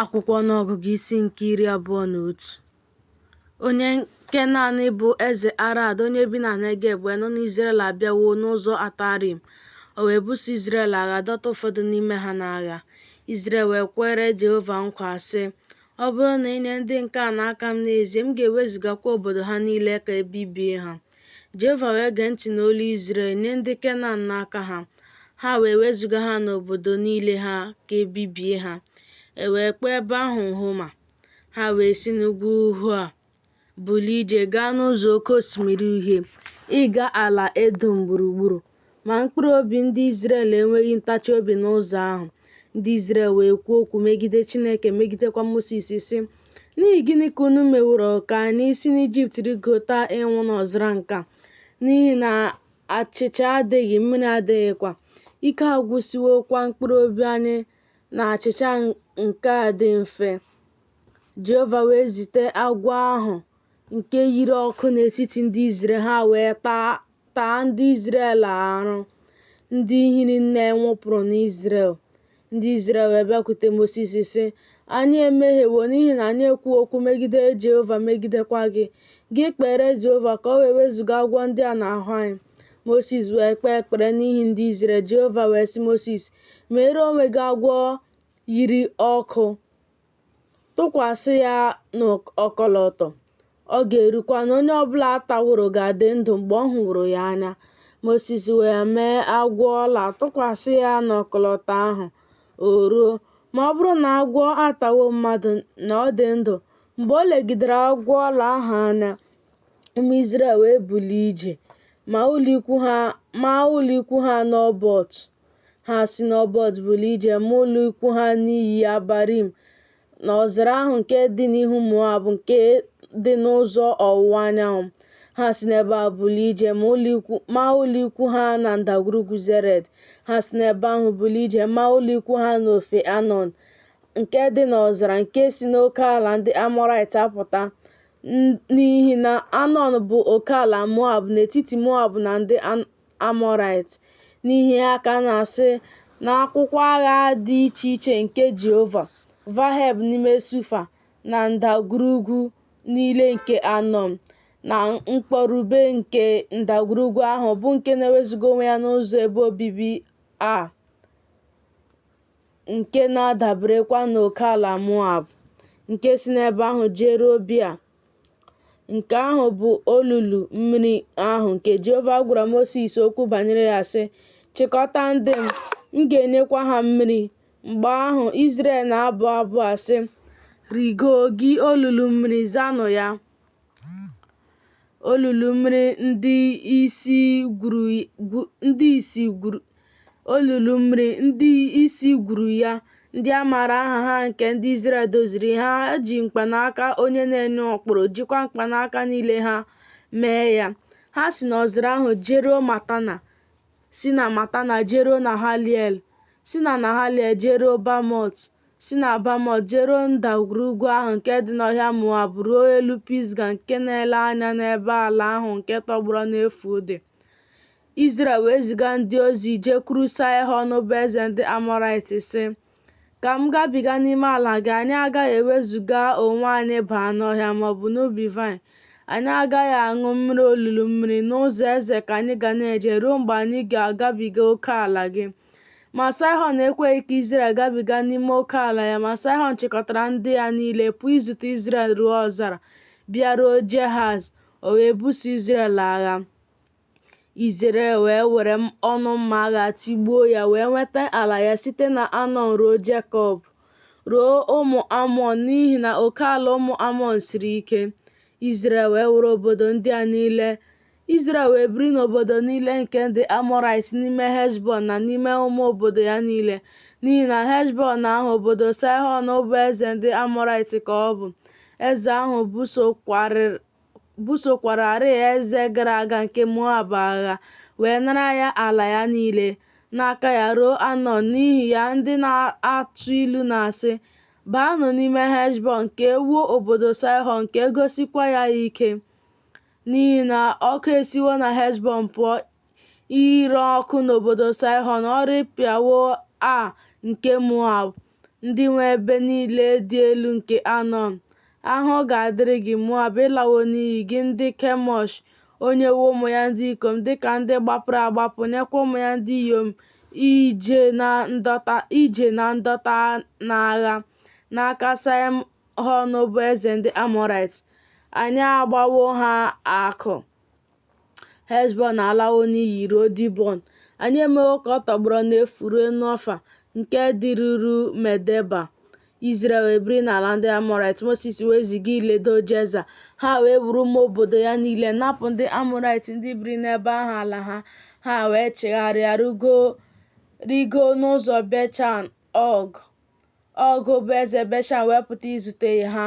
akwụkwọ ọnụọgụgụ isi nke iri abụọ na otu onye kenan bụ eze arad onye bi na negeb wee nụ na izrel abịawo n'ụzọ atarim o wee buso izrel agha dọta ụfọdụ n'ime ha n'agha izrel wee kwere jehova nkwa sị ọ bụrụ na i nye ndị nke a n'aka m n'ezie m ga-ewezugakwa obodo ha niile ka e bibie ha Jehova wee gee ntị n'olu Izrel nye ndị Kenan n'aka ha, ha wee wezuga ha n'obodo niile ha ka e bibie ha. E wee kpọọ ebe ahụ Homa. Ha wee si n'ugwu Hoa bulie ije gaa n'ụzọ Oke Osimiri Uhie ịga ala Edọm gburugburu. Ma mkpụrụ obi ndị Izrel enweghị ntachi obi n'ụzọ ahụ. Ndị Izrel wee kwuo okwu megide Chineke megidekwa Mosis sị, N'ihi gịnị ka unu meworo ka anyị si n'Ijipt rịgota ịnwụ n'ọzara nke a? N'ihi na achịcha adịghị, mmiri adịghịkwa. Ike agwụsịwokwa mkpụrụ obi anyị na achịcha nke a dị mfe. Jehova wee zite agwọ ahụ nke yiri ọkụ n'etiti ndị Izrel, ha wee taa taa ndị Izrel arụ ndị hiri nne nwụpụrụ n'Izrel. Ndị Izrel wee bịakwute Mosis sị, Anyị emehiewo n'ihi na anyị ekwuo okwu megide Jehova megidekwa gị. Gị kpeere Jehova ka o wee wezuga agwọ ndị a n'ahụ anyị. Mosis wee kpee ekpere n'ihi ndị Izrel. Jehova wee sị Mosis, Meere onwe gị agwọ yiri ọkụ. tụkwasị ya n'ọkọlọtọ, ọ ga-erukwa na onye ọbụla a taworo ga-adị ndụ mgbe ọ hụworo ya anya. Mosis wee mee agwọ ọla tụkwasị ya n'ọkọlọtọ ahụ, o ruo, ma ọ bụrụ na agwọ atawo mmadụ na ọ dị ndụ. Mgbe o legidere agwọ ọla ahụ anya, ụmụ Izrel wee bulie ije, ma ụlọikwu ha n'Obọt. Ha si n'Obot bulie ije ma ụlọ ikwu ha n'iyi Abarim, n'ọzara ahụ nke dị n'ihu Moab nke dị n'ụzọ ọwụwa anyanwụ. Ha si n'ebe a bulie ije ma ụlọ ikwu ha na ndagwurugwu Zered. Ha si n'ebe ahụ bulie ije ma ụlọ ikwu ha n'ofe Anọn, nke dị n'ọzara nke si n'oke ala ndị Amọrait apụta, n'ihi na Anọn bụ oke ala Moab n'etiti Moab na ndị Amọraịt n'ihi ya ka a na-asị n'akwụkwọ agha dị iche iche nke Jehova, Vaheb n'ime Sufa, na ndagwurugwu niile nke Anọn, na mkpọrube nke ndagwurugwu ahụ bụ nke na-ewezuga onwe ya n'ụzọ ebe obibi Aa, nke na-adaberekwa n'okeala Moab, nke si n'ebe ahụ jeruo Bia. Nke ahụ bụ olulu mmiri ahụ nke Jehova gwara Mosis okwu banyere ya sị, Chịkọta ndị m, m ga-enyekwa ha mmiri. Mgbe ahụ Izrel na-abụ abụ a sị, Rigo gị olulu mmiri zanụ ya. Olulu mmiri ndị isi gwuru Olulu mmiri ndị isi gwuru ya, ndị a maara aha ha nke ndị Izrel doziri, ha ji mkpanaka onye na-enye ụkpụrụ, jikwa mkpanaka niile ha mee ya. Ha si n'ọzara ahụ jeruo Matana, si na Matana jeruo Nahaliel, si na Nahaliel jeruo Bamot, si na Bamot jeruo ndagwurugwu ahụ nke dị n'ọhịa Moab ruo elu Pisga nke na-ele anya n'ebe ala ahụ nke tọgbọrọ n'efu dị. Izrel wee ziga ndị ozi jekwuru Saịhọn bụ eze ndị Amọraịt sị, Ka m gabiga n'ime ala gị, anyị agaghị ewezụga onwe anyị baa n'ọhịa ma ọ bụ n'ubi vaịn. Anyị agaghị aṅụ mmiri olulu mmiri, n'ụzọ eze ka anyị ga na-eje ruo mgbe anyị ga-agabiga oke ala gị. Ma Saịhọn ekweghị ka Izrel gabiga n'ime oke ala ya, ma Saịhọn chịkọtara ndị ya niile pụọ izute Izrel ruo ọzara, bịaruo Jehaz, o wee buso Izrel agha. Izrel wee were ọnụ mma agha tigbuo ya wee nweta ala ya site na Anọn ruo Jekọb, ruo ụmụ Amọn n'ihi na oke ala ụmụ Amọn siri ike. Izrel wee were obodo ndị a niile. Izrel wee biri n'obodo niile nke ndị Amọrait n'ime Heshbọn na n'ime ụmụ obodo ya niile, n'ihi na Heshbọn ahụ obodo Saịhọn bụ eze ndị Amọrait ka ọ bụ. Eze ahụ busokwarịrị busokwararịị eze gara aga nke Moab agha, wee nara ya ala ya niile n'aka ya ruo Anọn. N'ihi ya, ndị na-atụ ilu na-asị, Baanụ n'ime Heshbọn ka e wuo obodo Saịhọn ka e gosikwa ya ike, n'ihi na ọkụ esiwo na Heshbọn pụọ ire ọkụ n'obodo Saịhọn, ọ rịpịawo Ar nke Moab. Ndị nwe ebe niile dị elu nke Anọn, ahụhụ ga-adịrị gị, Moab, ị lawo n'iyi, gị ndị Kemosh! O nyewo ụmụ ya ndị ikom dị ka ndị gbapụrụ agbapụ, nyekwa ụmụ ya ndị inyom ije na ndọta n'agha n'aka Saịhọn bụ eze ndị Amọraịt. Anyị agbawo ha akụ. Heshbọn alawo n'iyi ruo Dibọn. Anyị emewo ka ọ tọgbọrọ n'efu ruo Nofa nke dịruru Medeba. Izrel wee biri n'ala ndị Amọrait Mosis wee ziga iledo Jeza ha wee buru ụmụ obodo ya niile napụ ndị Amọrait ndị biri n'ebe ahụ ala ha ha wee chigharịa rigo n'ụzọ Beshan Ọg. Ọg bụ eze Beshan wee pụta izute ha,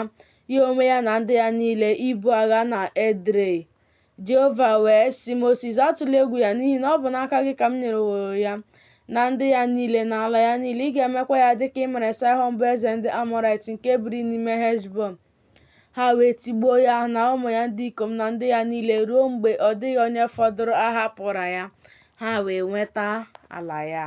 ya onwe ya na ndị ya niile ibu agha na Edrei. Jehova wee sị Mosis, Atụla egwu ya, n'ihi na ọ bụ n'aka gị ka m nyereworo ya na ndị ya niile na ala ya niile. Ị ga-emekwa ya dị ka ị mere Saịhọn bụ eze ndị Amọrait nke biri n'ime Heshbọn. Ha wee tigbuo ya na ụmụ ya ndị ikom na ndị ya niile ruo mgbe ọ dịghị onye fọdụrụ a hapụra ya, ha wee nweta ala ya.